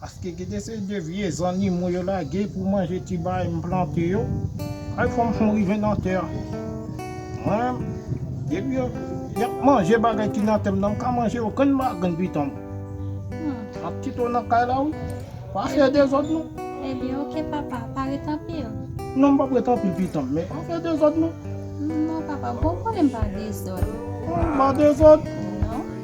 Paske gen de seri de vye zannimo yo lage pou manje ti bagay m plante yo. Kay fanm fon rive nan tè. Mwen, depi yo yap manje bagay ki nan tè m nan m ka manje okenn bagay nan pitan m. Map kite w nan kay la wi. Pa fè dezòd non. Ebyen ok papa, pa ret anpil. Non m pap ret anpil pitan m, men pa fè dezòd non. Non papa, bon konnen m pa dezòd. Ou pa dezòd? Non.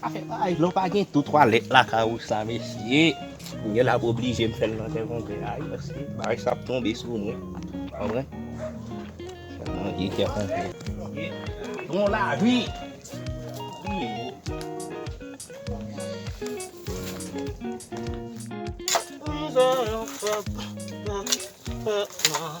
Sa fè paj non pa gen tou twalèt lakay ou sa mesye. M gen lap oblije m fèl nan tè konplè a wi paske bagay sa ap tonbe sou mwen ou konprann. Fèl nan vye tè konplè. Bon lavi. Mizè yon pèp nan pèp nan.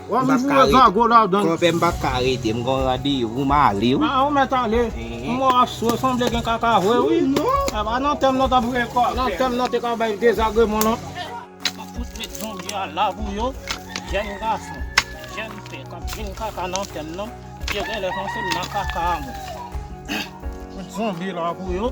Wap m foure zago ladann. Konpè m pa ka rete m gon randevou m ale wi. An ou mèt ale. M wè w ap swe sanble gen kaka vre wi. Epa nan tèm nan t ap vre kwa. Nan tèm nan te ka bay dezagreman nan. Map fout met zonbi a la pou yo. Jèn gason, jèn fè k ap vin kaka nan tèm nan. Yo genlè panse m nan kaka a mwen. Fout zonbi la pou yo.